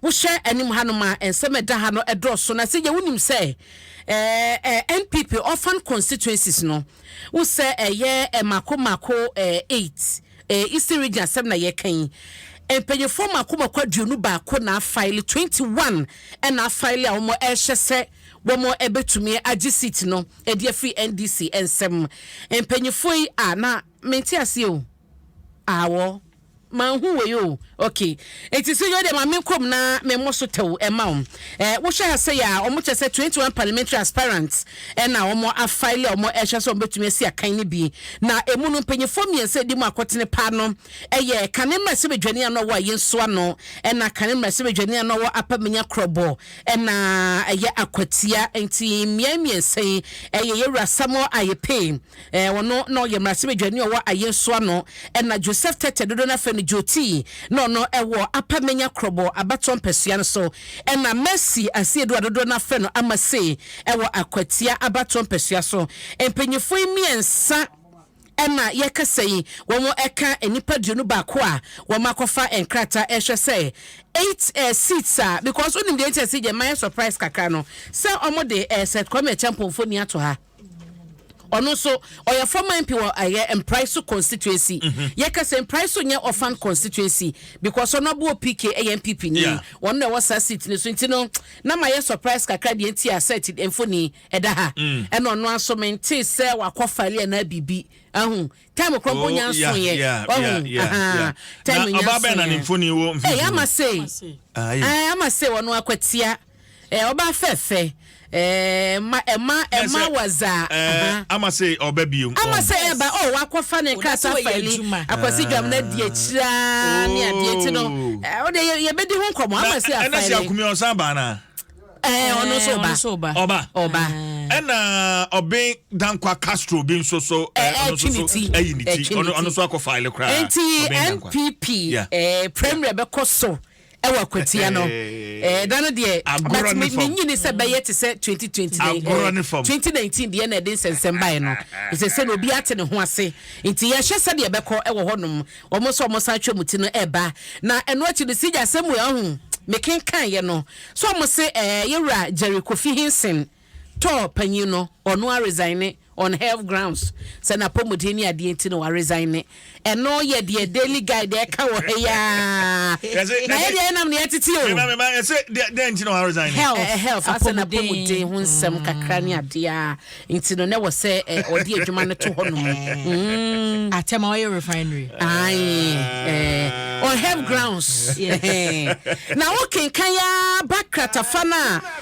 Wohwɛ anim hanom a, nsɛm a ɛda ha no dɔɔso, na sɛ gye wonim sɛ ɛɛ NPP orphan constituencies no, wo sɛ ɛyɛ mako mako eight, ɛɛ Eastern Region asɛm na yɛka yi. Mpanyinfoɔ mako mako aduonu baako na afaele, twenty one ɛna afaele a wɔn ɛrehyɛ sɛ wɔn ɛbɛtumi agye seat no ɛde afiri NDC nsam. Mpanyinfoɔ yi a na mente aseɛ o. Awɔ. Manhu wei o. Ok. Enti so yɛwɔ deɛ ma menkɔ mu na memmɔ so tɛw mma wo. Eh, wohwɛ ha sei a, wɔn kyerɛ sɛ twenty one parliamentary aspirants na wɔn afile a wɔn ɛhwɛ sɛ wɔbɛtumi asi akan no bi. Na ɛmu no mpanyinfoɔ mmiɛnsa a ɛdi mu akotene paa no yɛ kane mmarahyɛbadwani a na ɔwɔ Ayin so ano ɛna kane mmarahyɛbadwani a na ɔwɔ Upper Minya Krobo ɛna ɛyɛ Akwatia. Enti mmeae mmiɛnsa yi ɛyɛ Yɛwura Samuel Ayepee. eh, ɔno na ɔyɛ mmarahyɛbadwani a ɔwɔ ayɛnso ano, ɛna Joseph Tete dodo no afɛ no Jotii na ɔno ɛwɔ Apa Menya Krɔbɔ abatɔ mpɛsua no so, ɛna Mercy Asiedu a dodoɔ no afɛ no Amase ɛwɔ Akwatia abatɔ mpɛsua so. Mpanyinfoɔ yi mmiɛnsa ɛna yɛkasa yi, wɔn ɛka nnipa aduonu baako a wɔn akɔfa nkrataa ɛhwɛ sɛ eight eh, seats a because wonim deɛ nkyɛn si gyɛ mayɛ surprise kakra no sɛ wɔn de eh, Seth Kwame Acheampong mfoni ato ha. ɔno nso ɔyɛ former mp wɔ ɛyɛ eh, mpraiso constituency mhm. yɛka sɛ mpraiso nyɛ ɔfan constituency because ɔno aboɔ pk ɛyɛ mpp ni ɔno na ɛwɔ saa seat no so nti no na ma yɛ surprise kakra deɛ nti a set mfoni ɛda ha mm. ɛna ɔno aso mente sɛ wakɔ fale anaa biribi ahu time korɔ mpo oh, nya nso yɛ ɔhu time nya nso yɛ ɛyɛ ama se ɛyɛ ama se wɔn akwatia. Eh ɔba fɛfɛ eh ma eh ma eh ma waza aha. Ama se ɔba bio. Ama se ɛba oh wakɔ fa ne nkrata faili akwasi dwam na di akyiri aa ne adeɛ nti no eh ɔde yɛ bɛ di ho nkɔmɔ ama se afaili. Ɛna se akumi ɔsan ba na. Eh ɔno nso ɔba. Ɔba. Ɔba. Ɛna ɔben dankwa Castro bi nso so eh ɔno nso so ɛyi ne ti ɔno nso akɔ faili koraa. Nti NPP eh premier bɛ kɔ so. ɛwɔ akwatia no ɛɛ da no deɛ agorɔ ne fam menyini sɛ bɛyɛ te sɛ twenty twenty nine agorɔ ne fam twenty nineteen deɛ na ɛde nsɛnsɛm baeɛ no ɛsɛ sɛ na obi ate ne ho ase nti yɛhwɛ sɛdeɛ ɛbɛkɔ ɛwɔ hɔnom wɔn nso wɔn san atwa mu ti no ɛɛba na ɛno akyi no si gya asɛm mu ɛho mekenkan yɛ no so wɔn se ɛɛ yɛwura Jerry Kofi Hinson Tour panyin no ɔno a resigne on health grounds sɛ n'apɔmuden ne adeɛ nti na wa resigne. Ɛno yɛ deɛ daily guide ɛka wɔ ha yi ara. Na yɛ deɛ yɛ nam na yɛ tete o. Mema mema ɛsɛ deɛ deɛ nti na wa resigne. Health health asɛ n'apɔmuden ho nsɛm kakra ne adeɛ a nti no na ɛwɔ sɛ ɔde adwuma no to hɔ nom. Umm. Atɛm a ɔyɛ refinery. Ae ɛɛ on health grounds ɛhɛɛ. Na wo kenkan ara ba kratafa no a.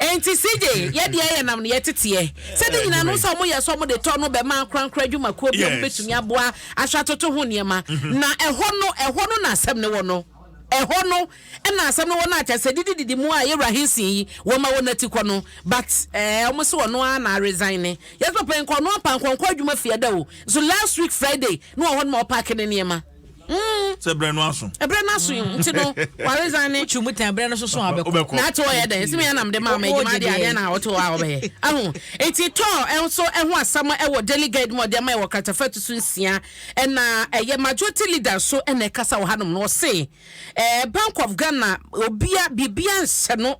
Enti CJ, yɛ deɛ yɛnam no yɛteteɛ sɛ ne nyinaa no sɛ ɔmo yɛ sɛ ɔmo de tɔ no bɛma ankorankoro adwumakuo bi a ɔmo bɛtumi aboa ahwɛ atoto ho nneɛma mhm. na ɛhɔ no ɛhɔ no na asɛm no wɔ no ɛhɔ no ɛna asɛm no wɔ no akyɛ sɛ didi didi mu a yɛwura hensin yi wɔma wɔ n'ati kɔ no but ɛɛ eh, ɔmo sɛ ɔno ara na resign ne yɛsɛ papa nkɔ ɔno apankɔnkɔ adwuma fie da o so last week Friday no wɔ hɔ no ma ɔpaake ne nneɛma. Mm. sɛ berɛ no aso ɛberɛ no aso mm. nti no waresan ne wotwi mu tan berɛ no soso a wobɛkɔ na ate ɔyɛ dɛn sɛ meanam de maa ma adwuma adeɛ adeɛ na wote hɔ a wobɛyɛ aho nti tɔɔ ɛnso ɛho asɛm ɛwɔ daily guide mu ɔde ama ɛwɔ kratafa tu so nsia ɛna ɛyɛ majority leader so ɛna ɛkasa wɔ hanom no ɔse eh, bank of ghana obia biribia nhyɛ no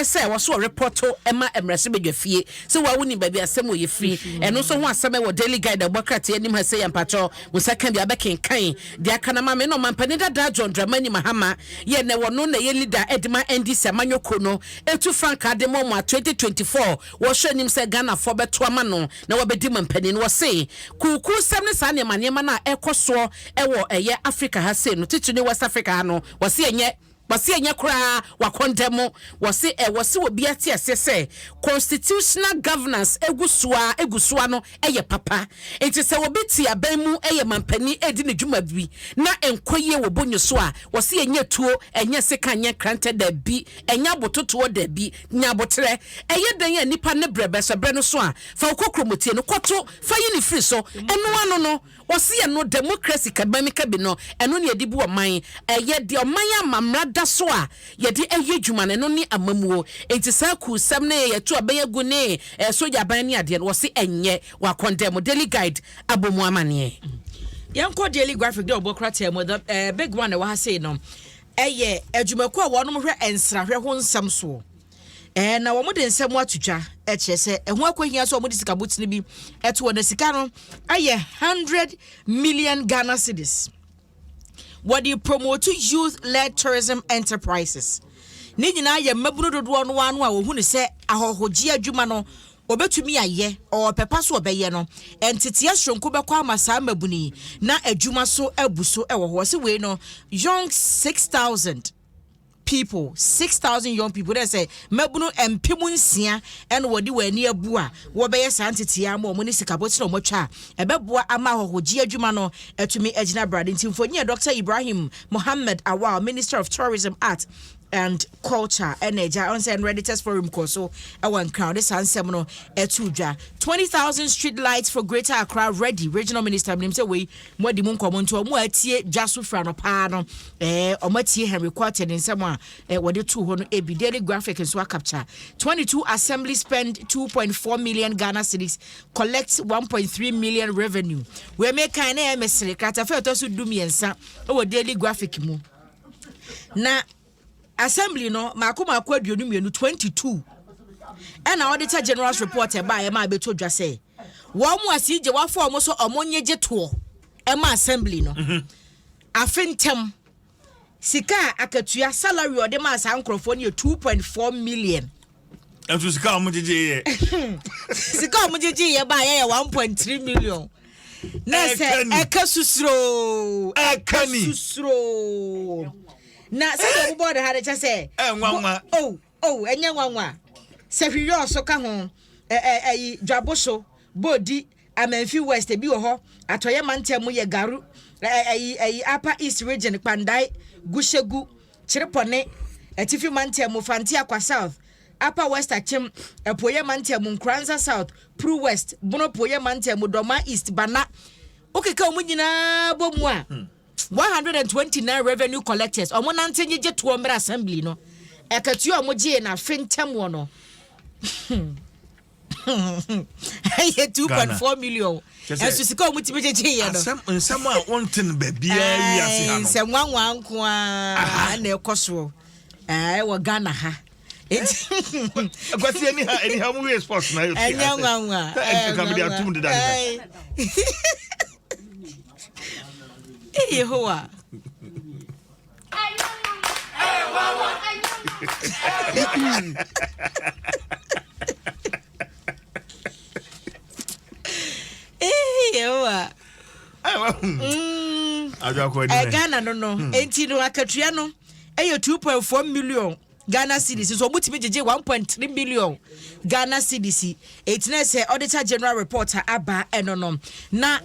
sɛ wɔ so repɔto ma mmarahyɛbadwafie sɛ wa wonim baabi asɛm wɔ yɛ firi ɛno nso ho asɛm ɛwɔ daily guide ɛbɔ krataa anim ha sɛ yɛ mpakyɛ mo nsa ka bia bɛkenkan deɛ aka no ma me na ɔmampanin dadaa John Dramani Mahama yɛ na ɛwɔ no na ɛyɛ leader ɛde ma NDC amanyɔkuo no ɛtu frankaa de ma ɔmo a 2024 wɔhyɛ anim sɛ Ghanafoɔ bɛto ama no na wabɛdi mampanin wɔ se kuukuu sɛm ne saa nneɛma nneɛma no a ɛkɔ soɔ ɛwɔ ɛyɛ Africa ha sei no titiri ne West Africa ha no wɔ se ɛnyɛ Wɔse ɛnyɛ koraa wakɔndɛm mo. Wɔse ɛwɔ se obiara te aseɛ sɛ constitutional governance egu soa egu soa no yɛ papa. Nti sɛ obi te aban mu yɛ manpanin redi ne dwuma bi na ɛnkɔ yie wɔ bo nyi so a, wɔse ɛnyɛ tuo, ɛnyɛ sekan, ɛnyɛ nkrantɛ, daabi, ɛnyɛ abototoɔ, daabi, nya aboterɛ. Ɛyɛ dɛn a nipa ne brɛ bɛsɔ brɛ no so a, fa wo kokuromotie no kɔto fa yi no firi so. Ɛno ano no. Ɔse ɛno democracy kɛbɛ me kɛbe no ɛno ne ɛde bu ɔman ɛyɛ deɛ ɔman ama mmra da so a yɛde ɛyɛ adwuma no ɛno ne amamuo nti saa kuu sɛm ne yɛto abɛn agu ne ɛɛ sogya aban ne adeɛ no wɔse ɛnyɛ wa kɔndɛmo daily guide abɔ mu amaneɛ. Yɛn kɔ daily graphic deɛ ɔbɔ krataa mu the ɛɛ big one ɛwɔ ha sei no ɛyɛ adwumakuo a wɔnom hwɛ nsrahwɛ ho nsɛm soɔ. Ɛɛ, na wɔde nsɛm ato twa, ɛkyerɛ sɛ ɛho akɔhia sɛ wɔde sika botene bi ɛto hɔ, na sika no ɛyɛ hundred million Ghana cedis. Wɔde promote youth-led tourism enterprises. Ne nyinaa yɛ mmabunu dodoɔ no ano a wɔhu ne sɛ ahɔhogye adwuma no wɔbɛtumi ayɛ, ɔpɛpa so ɔbɛyɛ no, nteteɛ soronko bɛkɔ ama saa mmabunu yi na adwuma so abu so wɔ hɔ. Wɔsi wei no, young six thousand. people, six thousand young people, dɛ sɛ mmabunu mpem nsia ɛna wɔde wɔn ani abu a wɔbɛyɛ saa ntetea ma wɔn ne sikabotire a wɔatwa a ɛbɛboa ama ahɔhogye adwuma no atumi agyina brade nti mfonyin yɛ Dr. Ibrahim Mohammed Awal, Minister of Tourism, Art and Culture ɛna agya ɔn sɛ Redditors Forum kɔɔ so ɛwɔ Nkran ɔde saa nsɛm no ɛto dwa. Twenty thousand street lights for Greater Accra ready, Regional Minister menim sɛ wei Moadi mo nkɔmmɔ nti, wɔn a atie dwa so fira no paa no, eh, wɔatie Henry Quarter ne nsɛm a eh, wɔde too hɔ no ebi. Daily Graphic nso akapkya. 22 Assembly spend 2.4 million Ghana cedis, collect 1.3 million revenue. Wei me kan na ɛyɛ mesere. Kratafa ɛtɔ so du mmiɛnsa wɔ Daily Graphic mu. Na Assembly no mako mako aduonu mmienu, 22, ɛna Auditor General's report ɛbaeɛ ma ɛbɛtɔ dwa sɛ wɔn mu asi gye wɔafa wɔn so wɔn nye gye toɔ ɛma assembly no mhm. afe ntɛm sika a akatua salary ɔde maa saa nkurɔfoɔ no yɛ 2.4 million ɛnso sika a wɔgyegye yɛ sika a wɔgyegye yɛ ba yɛyɛ one point three million na sɛ ɛka susuro ɛka susuro na sɛ sɛ ɔbobɔ ɔde ha de kyɛ sɛ ɛnwanwa o o ɛnyɛ nwanwa sɛ hwiyɔ so ka ho ɛɛ ɛyi dwabo so bɔɔdi. Amanfi West, ebi wɔ hɔ, Atɔeɛ Mantam mu yɛ Garu, ɛ, ɛyi, ɛyi, Upper East Region, Kpandae, Gushegu, Kyerepɔne, Atifi Mantam mu, Fanteakwa South, Upper West Akyem, Apueeɛ Mantam mu, Nkoranza South, Pru West, Bono Apueeɛ Mantam mu, Dɔma East, Bana. Wokeka wɔn nyinaa bɔ mu a, 129 revenue collectors, wɔn nante nyegye toɔ mmerɛ Assembly no, akatua a wɔn gyee no afe ntɛm wɔ no. ɛyɛ two point four million ɛnso sika wɔn ti mi gyegye yɛ no asɛm nsɛm a wɔn ti no baabiara wi ase ha no nsɛm nwanwa nko ara na ɛkɔ soɔ ɛɛ wɔ ghana ha eti akwasi ɛni ha ɛni ha wɔn wi sports na ɛyɛ fi ase ɛnyɛ nwanwa ɛɛ nkankan de atum deda ne ho ɛyɛ hɔ wa. yehowa ɛghana no no enti no akatua no ɛyɛ 2.4 million Ghana cedis nso wɔtumi gyegye one point three million Ghana cedis eti na sɛ auditor general report a aba ɛno no na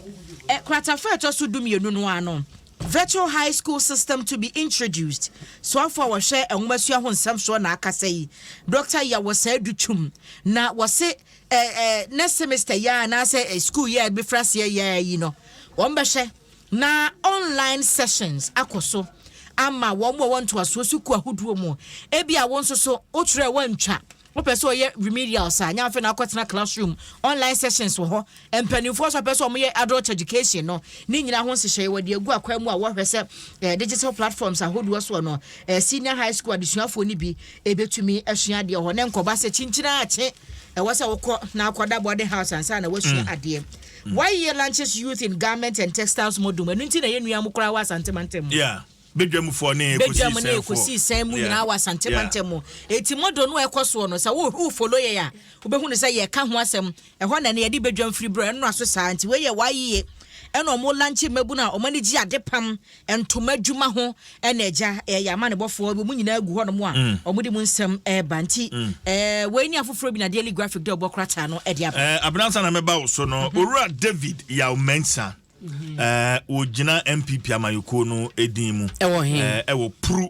ɛ kratafa a ɛtɔ so du mmienu no ano virtual high school system to be introduced soafo a wɔhwɛ nwomasua ho nsɛm soɔ na akasa yi Dr. Yawosaa Dutwum na wɔse ɛ ɛ next semester yɛ a anaasɛ ɛ school yɛ a ɛbɛfiri aseɛ yɛ a yi no wɔn bɛhwɛ na online sessions akɔ so ama wɔn a wɔwɔ ntoasoɔ sukuu ahodoɔ mu. Ebia wo nso so wokyerɛ woantwa wopɛ sɛ ɔyɛ remedials a nyɛ afei na akɔtena classroom online sessions wɔ hɔ mpanimfoɔ so apɛ sɛ wɔyɛ adult education no ne nyinaa ho nhyehyɛe wɔde agu akwan mu a wɔhwɛ sɛ eh, digital platforms ahodoɔ soɔ no eh, senior high school adesuafoɔ no bi ɛbɛtumi eh, asua adeɛ hɔ ne nkɔba sɛ kyinkyina akye ɛwɔ sɛ wokɔ na akɔda bɔde house ansa na wasua mm. adeɛ YEA launches Youth in Garment and Textiles Module mu, ɛno nti na ɛyɛ nua mu koraa wɔ Asante mantam mu. Yeah, Bedwamfoɔ ne Bedwam mu ne Kosii Sɛn mu nyinaa wɔ Asante mantam mu. Enti model no a ɛkɔ soɔ no, sɛ wo follow yɛn a, wobɛhu no sɛ yɛka ho asɛm. Ɛhɔ na ɛnɛ yɛde Bedwam firi berɛ ɛnora so saa. Nti wei yɛ YEA ɛna wɔn launche mmabunu a wɔn ani gye adepam ntoma adwuma ho na agya yɛ amanebɔfoɔ wɔn nyinaa gu hɔnom a mm. wɔn de mu nsɛm ɛreba nti mm. ɛɛ wɔn ani afoforɔ bi na daily graphic dɛ ɔbɔ krataa no ɛde aba. ɛɛ abinansa na mɛba woso no mhm. owura david yaw mɛnsa mhm. ɛɛ wɔgyina npp amanyɔkuo no edin mu ɛwɔ hɛn ɛwɔ puru.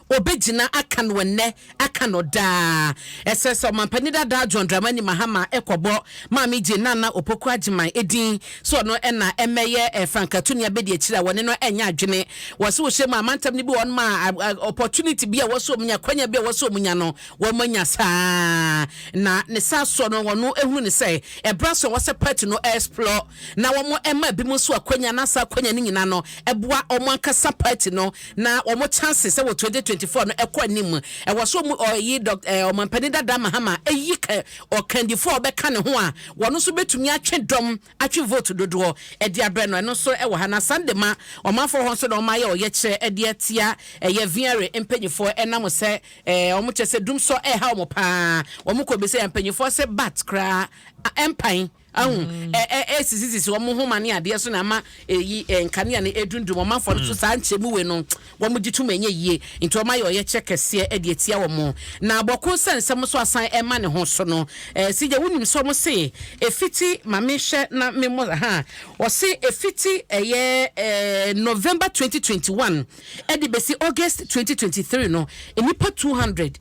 Obegyina aka no ɛnnɛ, aka no daa. Ɛsɛ sɛ Ɔmampanin dadaa John Dramani Mahama kɔbɔ Maame Jane Nana Opoku Agyeman din sɛ ɔno na ɛmmɛyɛ Frankatu ne Abɛdiakyiri a wɔne no ɛnyɛ adwene. Wɔse wohyɛ mu a amantam no bi wɔ hɔ nom a opportunity bi a wɔse wɔn nya, akwanya bi a wɔse wɔn nya no wɔn anya saa. Na ne saa soɔ no wɔn ehunu no sɛ ɛbra sɛ wɔsɛ party no explore na wɔma ebinom nso akwanya, na saa akwanya no nyinaa no boa wɔn ankasa party no, na wɔn chances wɔ twenty twenty four no kɔ anim. Ɛwɔ sɛ wɔn ɔyi Dɔk eh, Ɔmampanin Dada Mahama yi ka ɔkandifo a ɔbɛka ne ho a wɔn nso betumi atwe dɔm, atwe vote dodoɔ de abrɛ no. Ɛno nso wɔ ha, na saa de ma ɔmanfoɔ hɔ nso na wɔayɛ ɔyɛkyerɛ de atia ɛyɛ Viare mpanimfoɔ ɛnam sɛ eh, wɔn kyɛ sɛ dumsɔ ɛreha wɔn paa. Wɔn kɔ bisa yɛn mpanimfoɔ sɛ bat koraa ɛmpan. Ahu, ɛ, ɛ, ɛresisisisi wɔn nhoma ne adeɛ so na ama ɛyi ɛ, nkanea no ɛdundum wɔn afɔ no so. Saa nkyɛmu wei no, wɔn gye tom ɛnyɛ yie, nti wɔn ayɛ ɔyɛkyerɛ kɛseɛ de atia wɔn. Na bɔko sɛ nsɛm nso asan ɛma ne ho so no, ɛ, CJ, wonim sɛ wɔn se ɛfiti, ma me hwɛ na me mmɔ, ha, wɔse ɛfiti ɛyɛ ɛ, November 2021 ɛde bɛsi August 2023 no, nnipa 200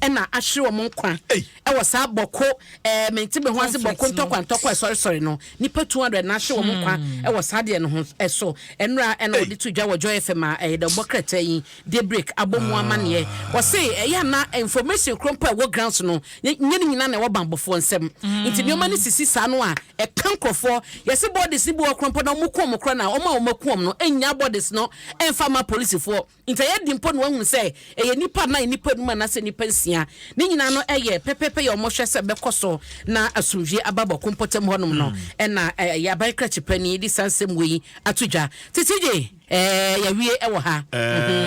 na ahwere wɔn nkwa wɔ saa bɔko ɛɛ mente me ho ase bɔko ntɔkwa ntɔkwa sɔresɔre no nipa two hundred na ahwere wɔn nkwa hmm. wɔ saa deɛ no ho ɛso ɛnura ɛna wɔde to dwa wɔ joy fm a ɛyɛ dɛ bɔ krataa yi de break abɔ mu amaneɛ ah. wɔse ɛyɛ ana information koro mpo a ɛwɔ grounds no nye ne nyinaa na ɛwɔ bambɔfoɔ nsɛm hmm. nti nneɛma no sisi saa no a ɛka nkorɔfoɔ yɛse bɔɔdes ne bi wɔ korɔ mpo na wɔn kɔn mu korɔ na wɔn a wɔn akuom no nya bɔɔdes no ɛnfa ma polisifoɔ Enti ɛyɛ den mpo na wɔahunu sɛ ɛyɛ nnipa anaa nnipa anum anaasɛ nnipa nsia. Ne nyinaa no yɛ pɛpɛɛpɛ yɛ wɔhwɛ sɛ bɛkɔ so na asomdwie aba bɔko mpɔtam hɔnom no na yɛ aban krakye panyin de saa nsɛm wei ato dwa. Tete gye, Ɛɛ, yɛawie wɔ ha.